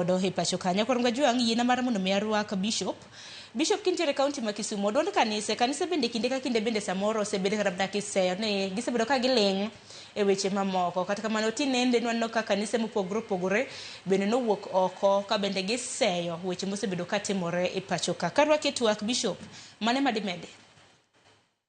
Odo e pacho ka nyakor Ngajwang' yiena mar mondo mi arwak bishop Bishop kintiere kaunti ma Kisumu odwond kanise kanise bende kinde ka kinde bende samoro osebedo kata mana kiseyo ni gisebedo ka giling' e weche mamoko kata kamano tinende nwaneno ka kanise mopogore opogore bende nowuok oko ka bende giseyo weche mosebedo katimore e pacho ka karwaki e twak Bishop mane madimedi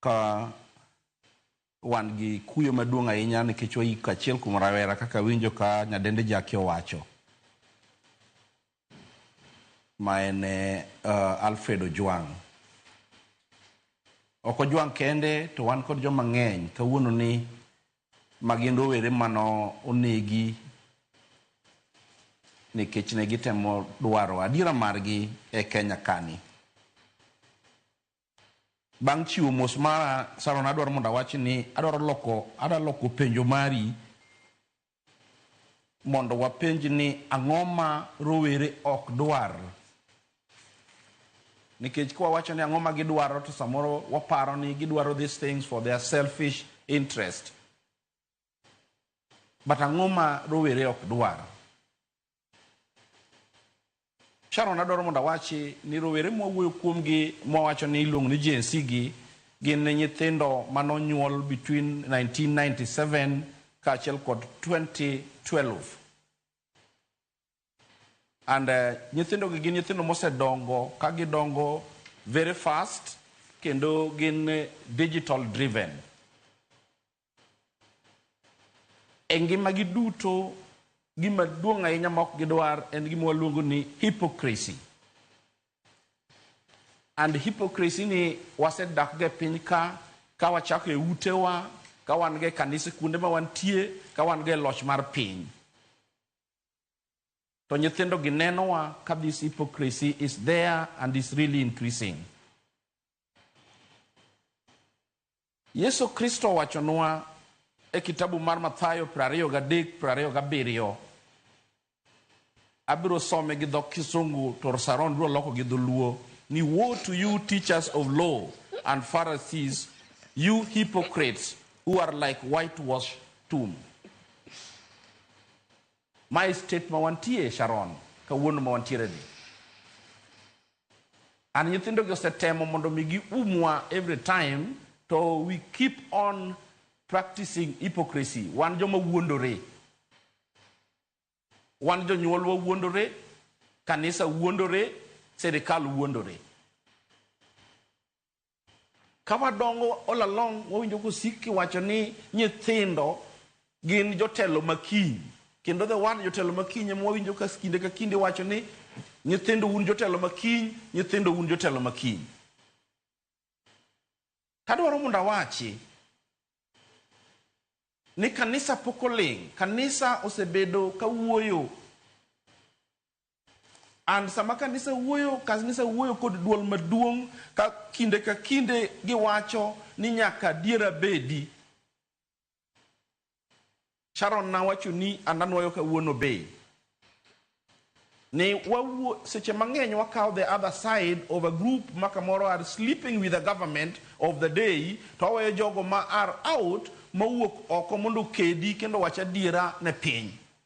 Ka wan gi kuyo maduong' ahinya nikech wayiko achiel kuom rawera kaka awinjo ka nyadendi Jackie owacho ma en uh, Alfred Ojwang'. Ok Ojwang' kende to wan kod joma ng'eny kawuono ni magin rowere mano onegi nikech ne gitemo dwaro adiera margi e Kenya kani. Bang' chiwo mos mara, Saron adwaro mondo awach ni adwaro loko, ada loko penjo mari mondo wapenj ni ang'o ma rowere ok dwar. Nikech kwa wacho ni ang'o ma gidwaro to samoro waparo ni gidwaro these things for their selfish interest. But ang'o ma rowere ok dwar? Sharon adwaro mondo awachi ni rowere mwawuoyo kuomgi mwawacho ni iluongo ni Gen Z gi gin nyithindo mane onyuol between 1997 kaachiel kod 2012 and uh, nyithindogi gin nyithindo mosedongo ka gidongo very fast kendo gin digital driven E ngimagi duto, gima duong' ahinya ma ok gidwar en gima waluongo ni hypocrisy. And hypocrisy ni wasedakgo e piny ka, ka wachako e utewa, ka wan go e kanise kuonde ma wantie, ka wan go e loch mar piny. To nyithindogi nenowa ka this hypocrisy is there and is really increasing. Yesu Kristo owachonwa e kitabu mar Mathayo prariyo gadek prariyo gabiriyo, abiro some gi dho Kisungu to Saron biro loko gi dholuo ni woe to you teachers of law and Pharisees, you hypocrites who are like whitewash tomb. Mae state ma wantie Sharon kawuono ma wantiere ni and nyithindo gi osetemo mondo mi gi umwa every time to we keep on practicing hypocrisy wan joma wuondore wan jonyuolwa wuondore kanisa wuondore serikal wuondore Ka wadongo all along wawinjo kosik kiwacho ni nyithindo gin jotelo ma kiny kendo the word jotelo ma kiny ema wawinjo ka kinde ka kinde iwacho ni nyithindo un jotelo ma kiny, nyithindo un jotelo ma kiny. Tadwaro mondo awachi ni kanisa pok oling', kanisa osebedo ka wuoyo And sama kanisa wuoyo, kanisa wuoyo kod dwol maduong' ka kinde ka kinde giwacho ni nyaka adiera bedi. Sharon nawacho ni and anwoyo kawuono be ni wawuo seche mang'eny wakawo the other side of a group ma kamoro are sleeping with the government of the day to waweyo jogo ma are out mowuok oko mondo okedi kendo wach adiera ne piny.